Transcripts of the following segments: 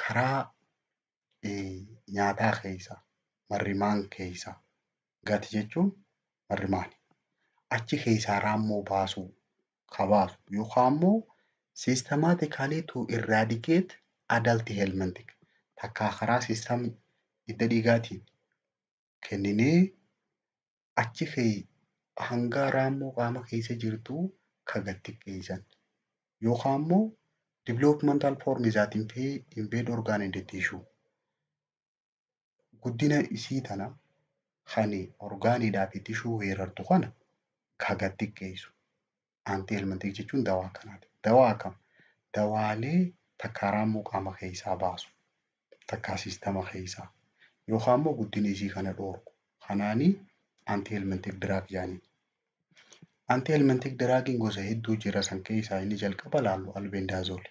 karaa nyaataa keessa marrimaan keessa gati jechuun marrimaani. Achi keessaa raammoo baasuu ka baasu yookaan immoo systematically to eradicate adult helmintic takkaa karaa system hidda dhiigaatiin kenninee achi kee hangaa raammoo qaama keessa jirtuu ka gad xiqqeessan. Yookaan immoo developmental form is that invade organ and tissue. Guddina isii tana kan orgaaniidhaa fi tishuu weerartu kana ka gad xiqqeessu. anti elmantiik jechuun dawaa akkanaati. Dawaa akkam? Dawaalee takkaa raammoo qaama keessaa baasu, takkaa siistama keessaa yookaan immoo guddina isii kana dhoorku. Kanaani anti elmantiik diraag jedhaniin. Anti elmantiik diraagiin gosa hedduu jira san keessaa inni jalqaba laallu albendaazooli.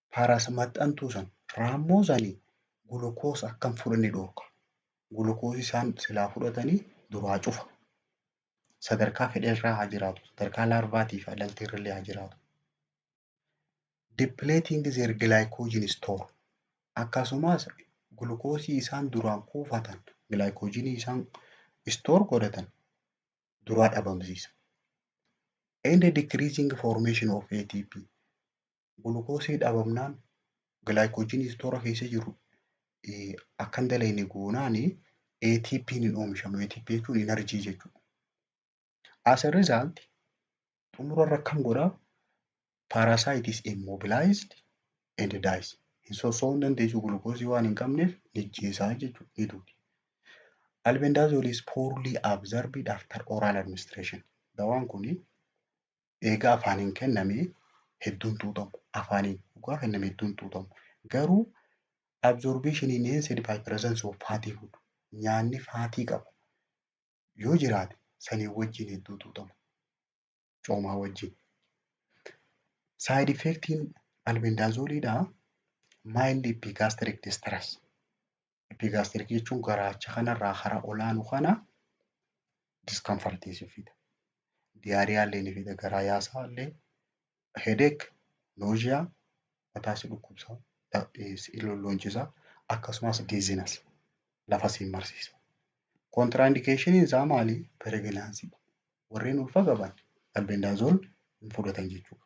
Paras maxxantuu san raammoo sanii gulukoos akka hin fudhanne dhoorka. Gulukoos isaan silaa fudhatanii duraa cufa. Sadarkaa fedherraa haa jiraatu. Sadarkaa laarvaatii fi adalteerrallee haa jiraatu. Depleting their glycogen store. Akkasumas gulukoosii isaan duraan kuufatan gilaayikoojinii isaan istoor godhatan duraa dhabamsiisa. And decreasing formation of ATP. gulukoosii dhabamnaan gilaayikoojinii istoora keessa jiru akka hin dalagne goonaan ATP hin oomishamu. ATP jechuun inarjii jechuudha. As a result xumura irra akkam godhaa? Parasite is immobilized and dies. Hin sossoo'uu hin dandeessu gulukoosii waan hin qabneef ni ajjeesaa jechuudha ni duuti. Albendazole is poorly absorbed after oral administration. Dawaan kun eegaa afaaniin kenname hedduun xuuxamu. Afaaniin dhugaa kenname hedduun xuuxamu. Garuu absorption in NSAID by presence of fatty food nyaanni faatii qabu yoo jiraate saniin wajjin hedduu xuuxamu. Coomaa wajjin. Side effectiin albendazoliidhaa mild epigastric distress Epigastric jechuun garaacha kanarraa hara olaanu kana discomfortii si fida. Diyaariyaa illee ni fida. Garaa yaasaa illee headache, nausea, mataa si dhukkubsa, si lolloonchisa akkasumas dizziness lafa si marsiisa. Kontraindikeeshiniin isaa maali? Pireegnaansii. Warreen ulfa qaban albendazole hin fudhatan jechuudha.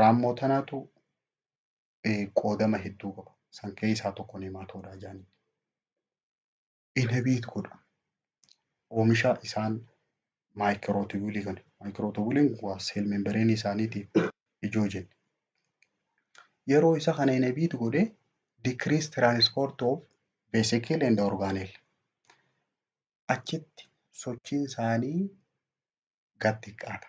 Raammoo tanaatu qoodama hedduu qaba. San keessaa tokko neemaatoodaa jedhanii. Inabiit godha. Oomisha isaan maayikirootiwuulii kana. Maayikirootiwuuliin waa seel membereenii isaaniitiif ijoo jenne. Yeroo isa kana inabiit godhe decrease transport of vesicle and organel. Achitti sochiin isaanii gad xiqqaata.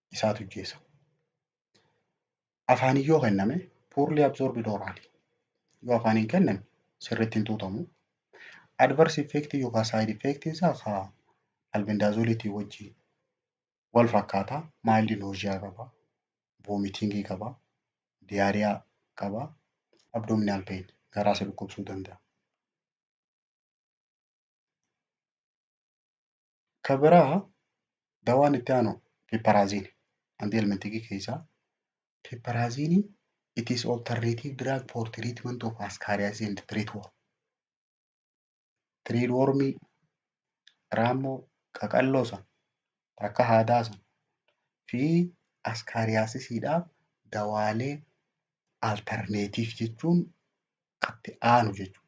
isaatu ijjeessa. Afaaniin yoo kenname poorlii absorbid oraalii yoo afaaniin kenname sirriitti hin tuutamu. Adverse effect yookaan side effect isaa ka albendazoliitii wajjin wal fakkaata. Mild nausea qaba, vomiting qaba, diarrhea qaba, abdominal pain garaa si dhukkubsuu danda'a. Ka biraa dawaan itti aanu piparaaziini. Antihelmintikii keessaa piparaaziini it is alternative drug for treatment of ascariasis and thread worm. Thread wormii raammoo qaqalloo san akka haadaa san fi askaariyaasisiidhaaf dawaalee alternative jechuun katti aanu jechuudha.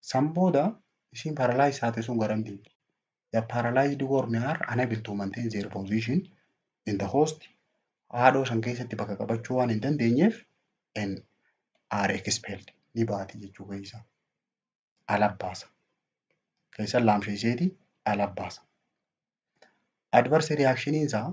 San booda ishiin paralyze taate sun garan deemti. The paralyzed worm are unable to maintain their position in the host. Haadhoo san keessatti bakka qabachuu waan hin dandeenyeef and are expelled ni baati jechuu keessa. Ala baasa. Keessan laamsheesseeti ala baasa. Adverse reaction isaa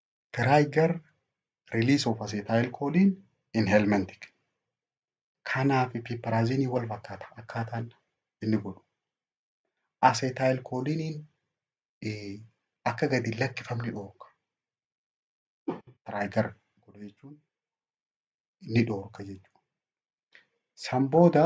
trigger release of acetylcholine in helmintic. Kanaa fi piiparaaziniin wal fakkaata akkaataan inni godhu. Acetylcholiniin akka gadi hin lakkifamne dhoorka. Trigger godha jechuun ni dhoorka jechuudha. San booda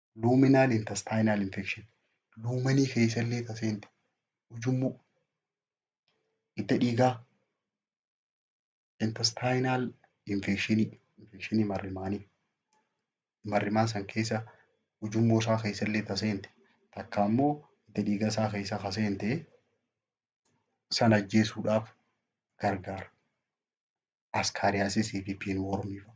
luminal intestinal infection luumanii keessallee ta seente ujummoo hidda dhiigaa intestinal infection infection marrimaanii marrimaa san keessa ujummoo isaa keessallee ta seente takka ammoo hidda dhiiga isaa keessa ka seente san ajjeesuudhaaf gargaara. Askaariyaasisii fi piinwoormii fa'a.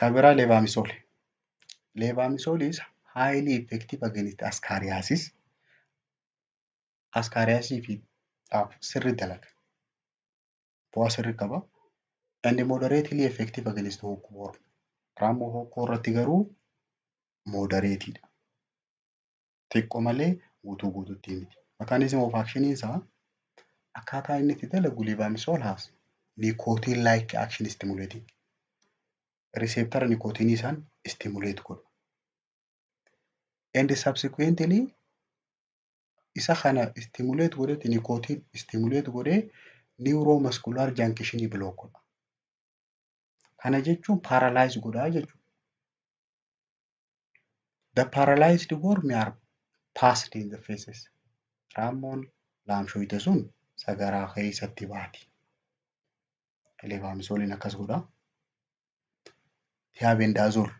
Ka biraa leevaamisool. Leevaamisooliis highly effective against ascaariasis. Ascaariasii fi dhaaf sirri dalaga. Bu'aa sirri qaba. And moderately effective against hookworm. Raammoo hookkoo irratti garuu moderate dha. xiqqo malee guutuu guututti miti. Mechanism of action isaa akkaataa inni itti dalagu levoamisol has nicotine like action stimulating. Receptor nicotine isaan stimulate godhu. And subsequently isa kana stimulate godhetti nicotine stimulate godhee neuromuscular junction block godha. Kana jechuun paralyze godhaa jechuudha. The paralyzed worm are passed in the faces. Raammoon laamshoyte sun sagaraa keessatti baati. Levaamisooliin akkas godha. Tiyaabendaazool.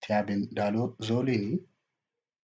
Tiyaabendaazooliin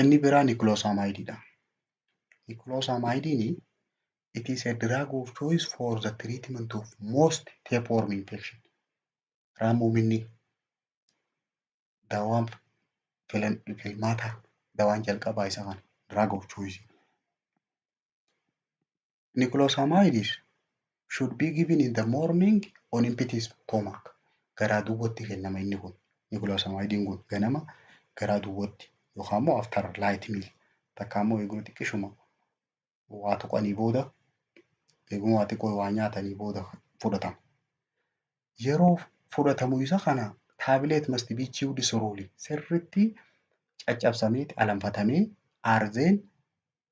Inni biraa nikloosaamaayidii dha. Nikloosaamaayidiin it is a drug of choice for the treatment of most tapeworm infection. Raammominni dawaan filan- filmaata dawaan jalqabaa isa kana drug of choice. Niklosamides should be given in the morning on empty stomach. Garaa duwwatti kennama inni kun. Niklosamidiin kun ganama garaa duwwatti yookaan immoo after light meal takkaa immoo eeguma xiqqishuma waa tuqanii booda eeguma waa xiqqoo waa nyaatanii booda fudhatama. Yeroo fudhatamu isa kana taabileet must be chewed slowly sirriitti caccabsameeti alanfatamee aarzeen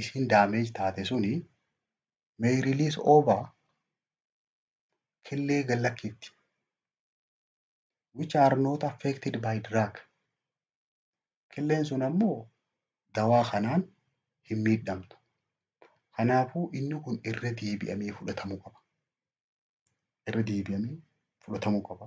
ishiin damage taate suni may release over killee gad lakkiifti which are not affected by drug killeen sun ammoo dawaa kanaan hin miidhamtu kanaafuu inni kun irra deebi'amee fudhatamuu qaba irra deebi'amee fudhatamuu qaba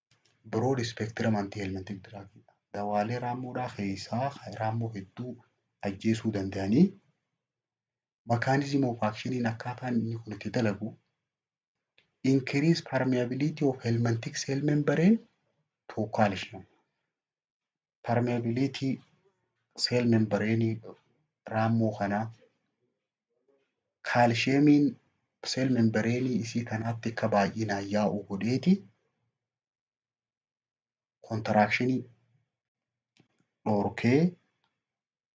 Broad spectrum anti-helmintic drug dha. Dawaalee raammoodhaa keessaa kan raammoo hedduu ajjeesuu danda'anii mechanism of action akkaataan inni kun itti dalagu increase permeability of helmintic cell membrane to calcium. permeability cell membrane raammoo kanaa kaalsheemiin cell membrane isii kanaatti akka baay'inaan yaa'u godheeti kontiraakshinii dhorkee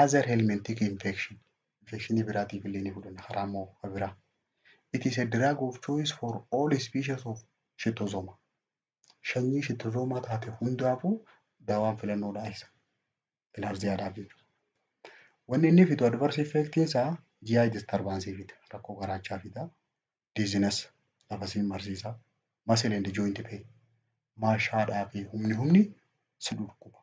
Other helminthic infection infekshinii biraatiif illee ni fudhanna karaa immoo ka biraa. It is a drug of choice for all species of shittosooma. Shanyii shittosoomaa taate hundaafuu dawaan filannoodhaa isa. Bilhaarziyaadhaaf jechuudha. Wanni inni fidu adverse effectiin isaa GI disturbance fida. Rakkoo garaachaa fida. Dizziness lafa siin marsiisa. Muscle and joint pain. Maashaadhaa fi humni humni si dhukkuba.